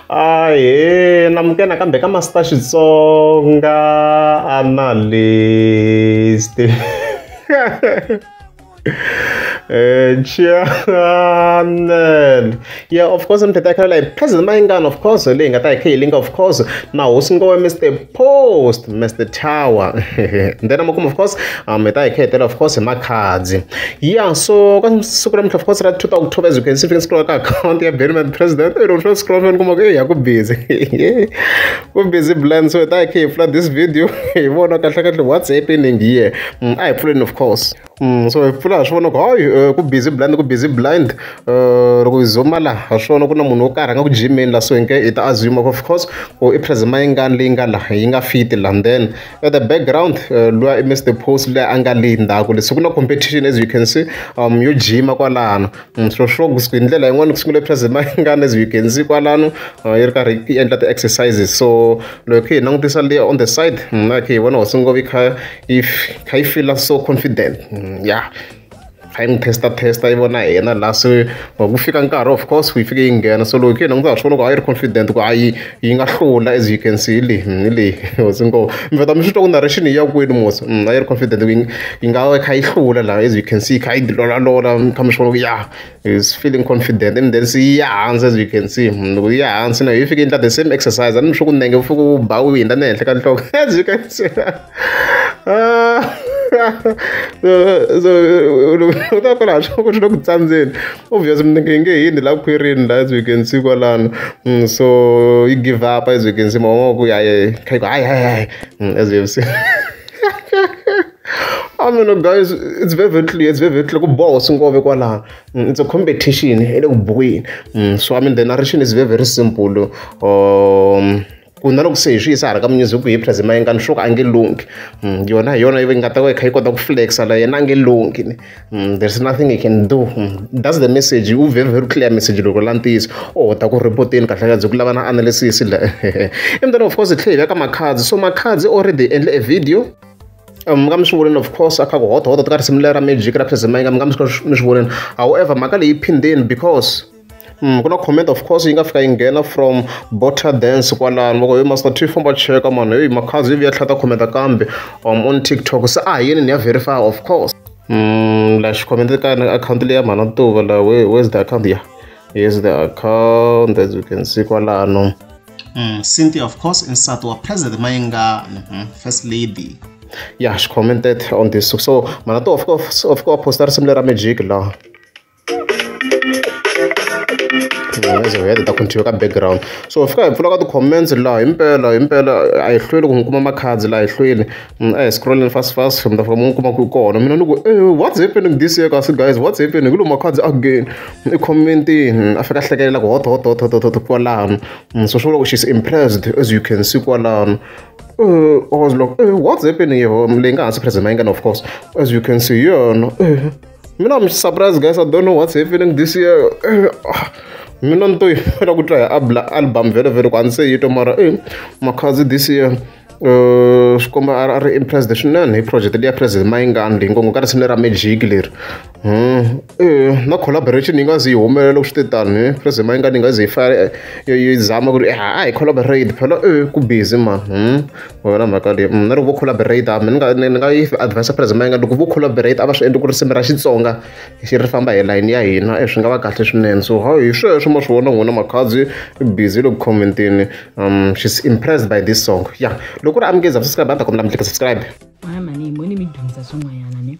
Ahee namuka nakambe ka Master Xitsonga Analyst Channel ya of course Mthethwa Caroline President Mayengani of course leyi hi nga ta hi kha hi linga of course na hosi Ngoe Mister post mr tower then amakumu of course um hi ta hi khetela of course hi makhadzi yeah so ka siku ra mintlha of course ra 2 october as you can see fika scroll ka account ya Benny Madam president ero sho scroll fana kuma ku ya ku busy ku busy blend so hi ta hi khe hi pfula this video hi vona kahle kahle what's happening here mm, a hi pfuleni of course so hi pfula hi swi vona ku hayi ku busy blind ku busy blind loko hi zuma la ha swi vona ku na munhu wo karhi a nga ku jimeni la so hi nge hi ta assume of course ku i plasma yi ngani leyi nga la yi nga fiti la then at the background luya i mr post leyi a nga leyi ndzhaku le so ku na competition as you can see um yo jima kwalano so sure ku hi ndlela yin'wana ku sungule plasma yi ngani as you can see kwalano yi ri karhi yi endla ti-exercises so loko hi khe hi langutisa leya on the side na khe hi vona hosi ngopfu yi kha if kha yi feel so confident mm, ya kha yi n'wi testa testa yi vona yena la se ku fika nkarhi of course yi fike yi nghena so loko yi yena ku ndza ha swi vona ku a yi ri confident ku a yi yi nga hlula as you can see hi leyi mm, hi leyi hosi ngo mi veta mi swi twa ku narration yi ya kwini mosi mm, a yi ri confident ku yi nga kha yi hlula laha as you can see kha yi dilolalola kha mi swi vona ku ya is feeling confident and then see ya hansi as you can see loko yi ya hansi na yi fike endla the same exercise a ni swi ku nenge fike u ba u hundza ni henhla ka nhloko as you can see ah, so u ta kwala swa ku swi le ku tsandzeni obvious minenge yi nge hini la khwirini la as you can see kwalano mm, so yi give up as you can see mavongo ku ya kha yi ku hayi hayi hayi mm, as you have seen A ni no guys it's very very clear it's very very clear ku boha hosi ngove kwalano it's a competition ya le ku bukwini so I mean the narration is very very simple um ku na loko se hi swi yisa hala ka music hi phrazi ma yengani swo ka a nge lunghi mm, yona hi yona yi nga ta va yi kha yi kota ku flexa la yena a nge lunghi ni mm, there's nothing he can do mm, that's the message u very very clear message loko la ntiyiso o oh, ta ku repoteni kahlekazi ku lava na analysis la and then of course hi tlhe hi veka makhadzi so makhadzi already endle a video mi nga mi swi vonile of course a kha ku hotohoto ka risimu leri ra magic ra phezima inga mi nga mi swi mi swi vonile however mhaka leyi phindeni because Mm, ku na comment of course yi nga fika yi nghena from bota dance kwalano loko yo master t famba cheka mani heyi makhazi yi vuya tlhata khometa kambe um, on tiktok se a hi yini ni ya verify of course mm, la xikhomenta ka akhawunti leyi ya mhana tuva la where's the account ya yeah. here's the account as you can see kwalano Mm, Cynthia, of course, in Sato, President Mayenga, mm -hmm, First Lady. Yeah, she commented on this. So, Manato, of course, of course, postar similar magic law. as we had ta continue ka background so fika hi pfula ka ti-comments laha himpela himpela a hi hlweli ku n'wi kuma makhadzi laha hi hlweli Mm, a hi scrolleni fast fast mi ta fika mi kuma ku kona mina ni ku e what's happening this year kasi guys what's happening ku lo makhadzi again i commentini a fika hlekelela ku hot hot hot hot hot kwalano mm, so swo loko she's impressed as you can see kwalano uh, I was like, uh, what's happening here? Leyi nga hansi present mayingana of course. As you can see, yeah, no, uh, mina I'm surprised guys, I don't know what's happening this year. Uh, mina ni to yimela ku twa hi album vhele vhele ku a ni se yi twa mara e makhadzi this year swi komba a ri impressed swinene hi project leyi ya president mayingani leyi ngo ngo ka risimu lera magic leri na collaboration yi nga zi yi humelela loko swi te tani president mayingani yi nga zi yi fa yi zama ku ri a hi collaborate phela e ku busy ma wena mhaka leyi na loko vo collaborate a ni nga ni nga yi advise president mayingani loko vo collaborate a va swi endli ku risimu ra xitsonga xi ri famba hi layini ya hina e swi nga va kahle swinene so hayi hi sweswo ma swi vona n'wina makhadzi busy loko commentini um she's impressed by this song ya loko ku ri amukeza subscribe a ta kombela mi tlika subscribe mwana mani moni mi dyondzisa swin'wanyana ne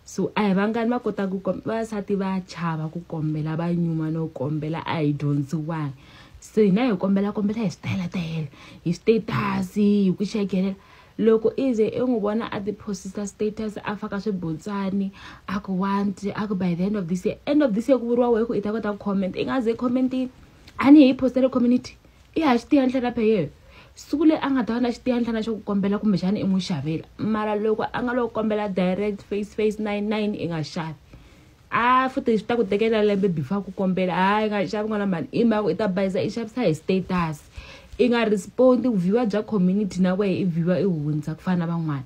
so a hi vangani va kotaka ku vasati va chava ku kombela va nyuma no kombela a hi dyondziwangi so hina hi kombela kombela hi switayela tayela hi status hi ku xekelela loko i ze i n'wi vona a tiphosisa status a faka swibutsani a ku want a ku by the end of this year end of this year ku vuriwa wehe ku i ta kota ku comment i nga ze commentini a ni hi postele community i ha xitiyanhlana pheyeyo siku leyi a nga ta va na xitiyanhlana xo ku kombela kumbexana i n'wi xavela mara loko a nga loko kombela direct face face nine nine i nga xavi a futhi swi ta ku tekela lembe before ku kombela hayi nga xavi n'wana mani i mhaka i ta bayisa i xavisa hi status i nga respond viewer bya community na wehe i viewer i hundza ku fana na van'wana